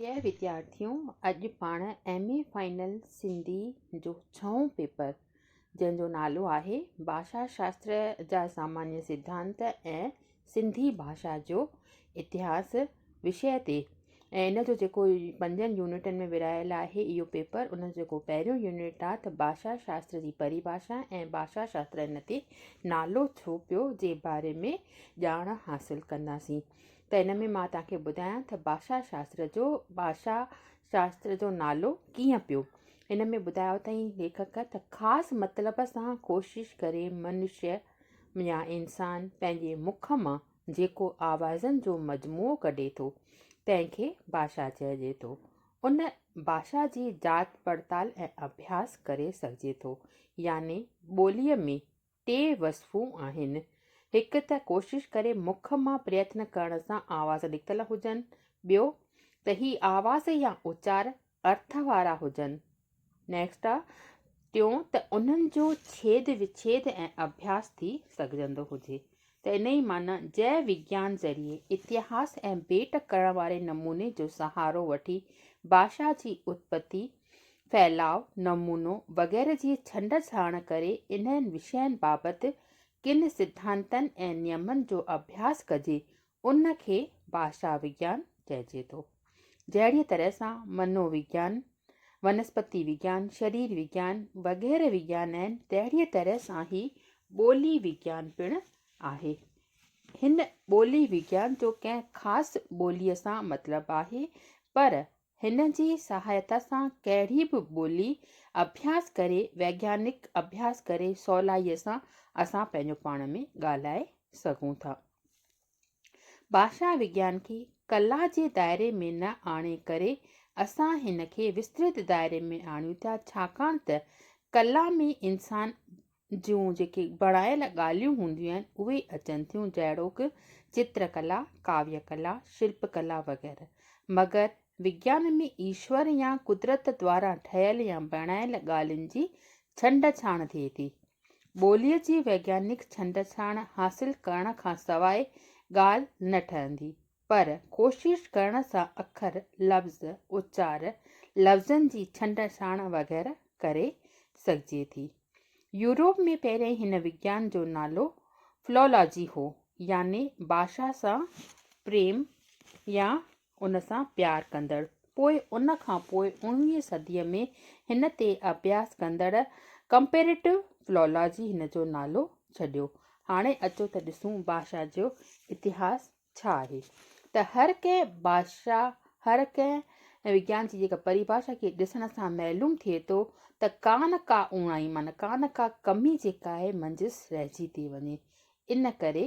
اهي وديارٿيون اڄ پاڻ ايم اي فائنل سنڌي جو ڇهون پيپر جنهن جو نالو آهي ڀاشا شاستر جا سامانيه سڌانت ۽ سنڌي ڀاشا جو اتهاس وشيه تي ۽ ان جو جيڪو پنجن يونٽن ۾ ورهايل آهي اهو پيپر ان جو جيڪو پهريون يونٽ آهي ته ڀاشا شاستر جي پريڀاشا ۽ ڀاشا شاستر ان تي نالو ڇو پيو جي باري ۾ ڄاڻ حاصل ڪنداسين ته ان ۾ مان توهان کي ٻڌايان ته ڀاشا شاستر جو ڀاشا شاستر جو نالو ڪيئن پيو. هن ۾ ٻڌايو اٿائين ليکڪ ته خاص مطلب سان ڪوشش ڪري منشيه يا انسان پنهنجي مک مان جيڪو آوازن جو مجموعو ڪڍي ٿو تنهن کي ڀاشا چئجي ٿو. ان ڀاشا جي جاچ پڙتال ۽ اڀياس ڪري سگهجي ٿو يعني ٻوليء ۾ ٽي وصفون آهن، هڪ ته ڪوشش ڪري مک مان پريتن ڪرڻ سان آواز نڪتل هجن، ٻيو ته هي آواز يا اچار ارٿ وارا هجن، Next، ٽيون ته انهن جو ڇيد وڇيد ۽ اڀياس ٿي سگهجندو هجي، ته انهيء معنيٰ جئه وگيان ذريعي اتهاس ۽ ڀيٽ ڪرڻ واري نموني جو سهارو وٺي ڀاشا جي اتپتي، ڦهلاء، نمونو وغيره جي ڇنڊ ڇاڻ ڪري انهن وشين بابت ڪن سڌانتن ۽ نيمن جو اڀياس ڪجي، ان کي ڀاشا وگيان چئجي ٿو. جهڙيء طرح سان منو وگيان، ونسپتي وگيان، شرير وگيان وغيره وگيان آهن، تهڙيء طرح سان هي ٻولي وگيان پڻ آهي. هن ٻولي وگيان جو ڪنهن خاص ٻوليء سان مطلب آهي، پر هن جي سهائتا سان ڪهڙي به ٻولي اڀياس ڪري، ويگيانڪ اڀياس ڪري سولائيء سان اسان پنهنجو پاڻ ۾ ڳالهائي سگهون ٿا. ڀاشا وگيان کي ڪلا جي دائري ۾ نه آڻي ڪري اسان هن کي وسترت دائري ۾ آڻيون ٿا ڇاڪاڻ ته ڪلا ۾ انسان جون جيڪي بڻايل ڳالهيون هونديون آهن اهي اچن ٿيون جهڙوڪ چتر ڪلا، ڪاويه ڪلا، شلپ ڪلا وغيره مگر وگيان ۾ ايشور يا قدرت دواران ٺهيل يا بڻايل ڳالهين جي ڇنڊ ڇاڻ ٿئي ٿي. ٻوليء جي ويگيانڪ ڇنڊڇاڻ حاصل ڪرڻ کان سواء ڳالهه نه ٺهندي، پر ڪوشش ڪرڻ سان اکر، لفظ، اچار، لفظن جي ڇنڊڇاڻ وغيره ڪري سگهجي ٿي. يوروپ ۾ پهرين هن وگيان جو نالو Philology هو، يعني ڀاشا سان پريم يا ان سان پيار ڪندڙ پوء ان کان پوء اڻويهين صديء ۾ هن تي اڀياس ڪندڙ ڪمپيريٽو فلولاجي هن جو نالو ڇڏيو. هاڻي اچو ته ڏسون بادشاهه جو اتهاس ڇا آهي ته هر ڪنهن بادشاهه هر ڪنهن وگيان جي جيڪا پريڀاشا کي ڏسڻ سان معلوم ٿئي ٿو ته ڪا نه ڪا اوڻائي معنيٰ ڪا نه ڪا ڪمي جيڪا آهي منجهس رهجي ٿي وڃي ان ڪري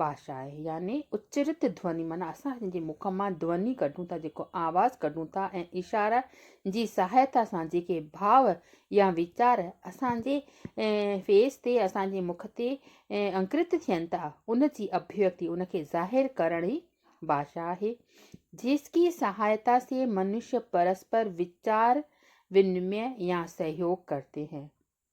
باشا آهي يعني اچرت ڌوني معنيٰ اسان جنهنجي مک مان ڌوني ڪڍون ٿا جيڪو آواز ڪڍون ٿا ۽ اشاره جي سهائتا سان جيڪي ڀاء يا ويچار اسان جي فيس تي اسان جي مک تي انڪرت ٿين ٿا ان جي اڀيوڪتي ان کي ظاهر ڪرڻ ئي باشا آهي جس ڪي سهائتا سي منش پرسپر ويچار ونمي يا سهيوگ ڪرتي هين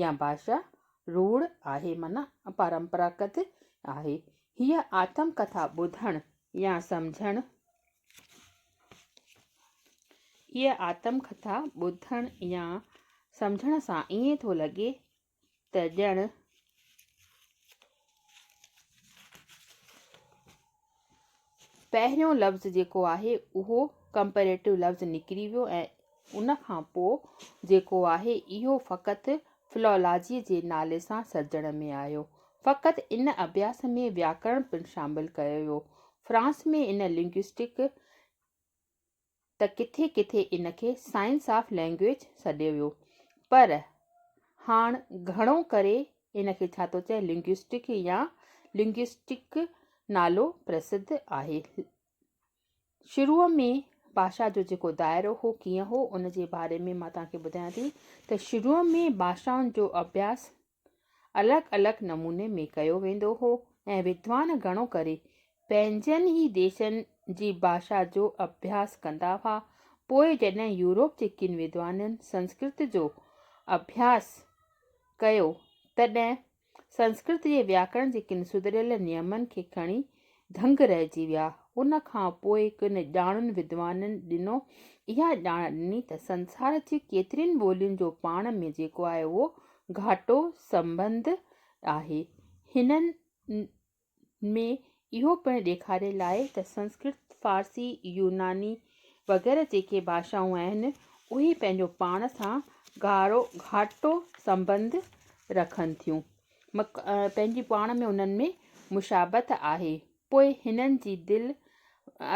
يا ڀاشا روڙ آهي معنيٰ اپرمپراگت آهي. هيء آتم ڪٿا ٻڌڻ يا سمجهڻ هيء آتم ڪٿا ٻڌڻ يا سمجهڻ سان ائين ٿو لڳي ته ڄڻ پهريون لفظ جيڪو آهي اهو ڪمپيريٽو لفظ نڪري ويو ۽ ان کان پوء جيڪو آهي اهو فقط فلولاجيء جي نالي سان سرجڻ ۾ آيو. فقط ان اڀياس ۾ وياڪرڻ پڻ شامل ڪيو ويو. فرانس ۾ ان لنگوئسٽڪ ته ڪٿي ڪٿي ان کي سائنس آف لئنگئيج سڏيو ويو پر هاڻ گهڻو ڪري ان کي ڇا ٿو چئي لنگوسٽڪ يا لنگوسٽڪ نالو پرسڌ آهي. شروع ۾ باشا جو جيڪو دائرو هو ڪيئن هو ان جي باري ۾ مان توهان کي ٻڌايان ٿي ته شروع ۾ باشائن جو اڀياس الڳ الڳ نموني ۾ ڪيو ويندو هو ۽ ودوان گهڻو ڪري پنهنجن ئي ديسن جي ڀاشا جو اڀياس ڪندا هئا. پوء جڏهن يورپ جي ڪن ودوانن سنسڪرت جو اڀياس ڪيو تڏهن سنسڪرت جي وياڪرڻ جي ڪن سڌريل نيمن کي کڻي دنگ رهجي ويا. ان کان پوء ڪن ڄاڻن ودوانن ڏنو اها ڄاڻ ڏني ته سنسار جي ڪيترين ٻولين جو پاڻ ۾ جيڪو آهي اهو گهاٽو سنٻنڌ آهي. هنن ۾ اهو پڻ ڏيکاريل آهي ته سنسڪرت، فارسي، يوناني وغيره جيڪي ڀاشائون آهن اهي پنهنجو پاڻ سان گهاٽو سنٻنڌ رکن ٿيون. پنهنجي پاڻ ۾ انهن ۾ مشابهت آهي. پوء هنن جي دل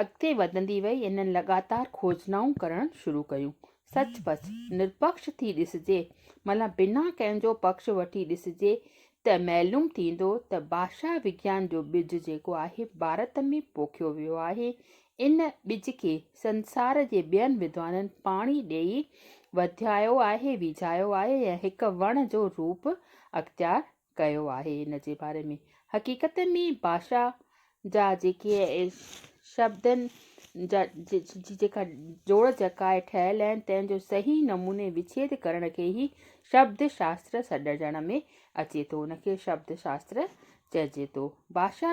اڳتي وڌندي وئي ۽ هنن لڳاتار کوجنائون ڪرڻ شروع ڪيون. سچ پچ، نرپڪش ٿي ڏسجي، معنيٰ بنا ڪنهن جو پڪش وٺي ڏسجي ته معلوم ٿيندو ته ڀاشا وگيان جو ٻج جيڪو آهي ڀارت ۾ پوکيو ويو آهي ان ٻج کي سنسار جي ٻين وڌوانن پاڻي ڏيئي وڌايو آهي، ويجهايو آهي ۽ هڪ وڻ جو روپ اختيار ڪيو آهي. ان جي باري ۾ حقيقت ۾ ڀاشا جا جيڪي شبدن جي جيڪا جوڙ جڪائي ٺهيل آهن، تنهن جو صحيح نموني وڇيد ڪرڻ کي ئي شبد شاستر سڏجڻ ۾ اچي ٿو. ان کي شبد شاستر چئجي ٿو. ڀاشا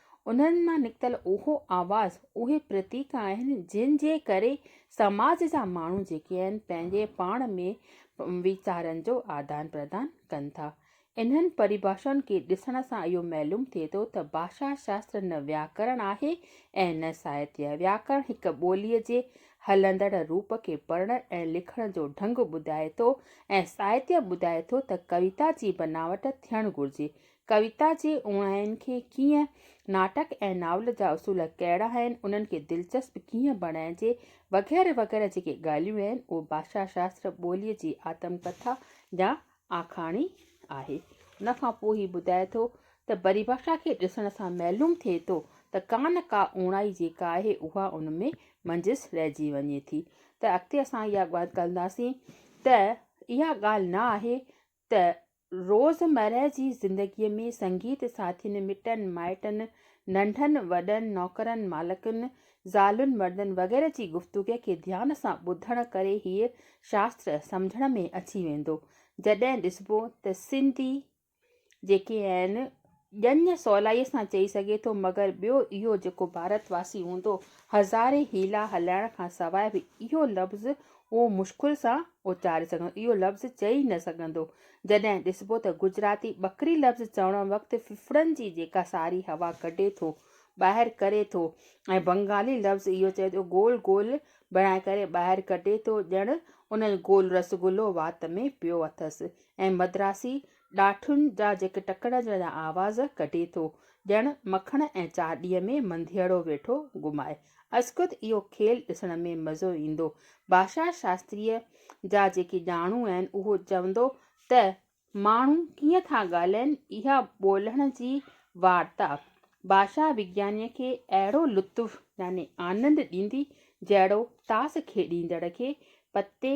انهن مان نڪتل اهو آواز، اهي پرتيڪ آهن، جن جي ڪري سماج جا ماڻهو جيڪي آهن، پنهنجي پاڻ ۾ ويچارن جو آدان پردان ڪن ٿا. انهن پريڀاشائن کي ڏسڻ سان اهو معلوم ٿئي ٿو ته ڀاشا شاستر نه وياڪرڻ آهي ۽ نه ساهتيه. وياڪرڻ هڪ ٻوليء جي هلندڙ روپ کي پڙهڻ ۽ لکڻ جو ڍنگ ٻڌائي ٿو ۽ ساهتيه ٻڌائي ٿو ته ڪويتا جي بناوٽ ٿيڻ گهرجي، ڪويتا جي اوڻاين کي ڪيئن، ناٽڪ ۽ ناول جا اصول ڪهڙا آهن، انهن کي دلچسپ ڪيئن بڻائجي، وغيره وغيره جيڪي ڳالهيون آهن، اهو ڀاشا شاستر ٻوليء جي آتم ڪٿا يا آکاڻي آهي. ان کان پوء هي ٻڌائي ٿو ته پريڀاشا کي ڏسڻ سان معلوم ٿئي ٿو ته ڪا نه ڪا اوڻائي جيڪا آهي اها ان ۾ منجهس رهجي وڃي ٿي ته اڳتي اسان اها ڳالهه ڪنداسين ته اها ڳالهه نه آهي ته روزمرهه جي زندگيء ۾ سنگيت ساٿين، مٽن مائٽن، ننڍن وڏن، نوڪرن مالڪن، زالن مردن وغيره جي گفتگوء کي ڌيان سان ٻڌڻ ڪري هيء شاستر سمجهڻ ۾ اچي ويندو. جڏهن ڏسبو ته سنڌي جيڪي آهن، ڄڃ سولائيء سان چئي سگهي ٿو، مگر ٻيو اهو جيڪو ڀارت واسي هوندو، هزارين حيلا هلائڻ کان سواء به اهو لفظ اهو مشڪل سان اچاري سگهندو، اهو لفظ چئي نه سگهندو. جڏهن ڏسبو ته گجراتي ٻڪري لفظ چوڻ وقت ڦڦڙن جي جيڪا ساري هوا ڪڍي ٿو، ٻاهر ڪري ٿو ۽ بنگالي لفظ اهو چئي ٿو گول گول بڻائي ڪري ٻاهر ڪڍي ٿو، ڄڻ ان جو گول رسگلو وات ۾ پيو اٿس ۽ مدراسي ڏاٺن جا جيڪي ٽڪڙ جا آواز ڪڍي ٿو، ڄڻ مکڻ ۽ چاڏيء ۾ منڌيئڙو ويٺو گهمائي. ازخود اهو کيل ڏسڻ ۾ مزو ايندو. ڀاشا شاستريء جا جيڪي ڄاڻو آهن، اهو چوندو ته ماڻهو ڪيئن ٿا ڳالهائين، اها ٻولڻ جي وارتا، ڀاشا وگيانيء کي اهڙو لطف يعني آنند ڏيندي، جهڙو تاس کيڏيندڙ کي پتي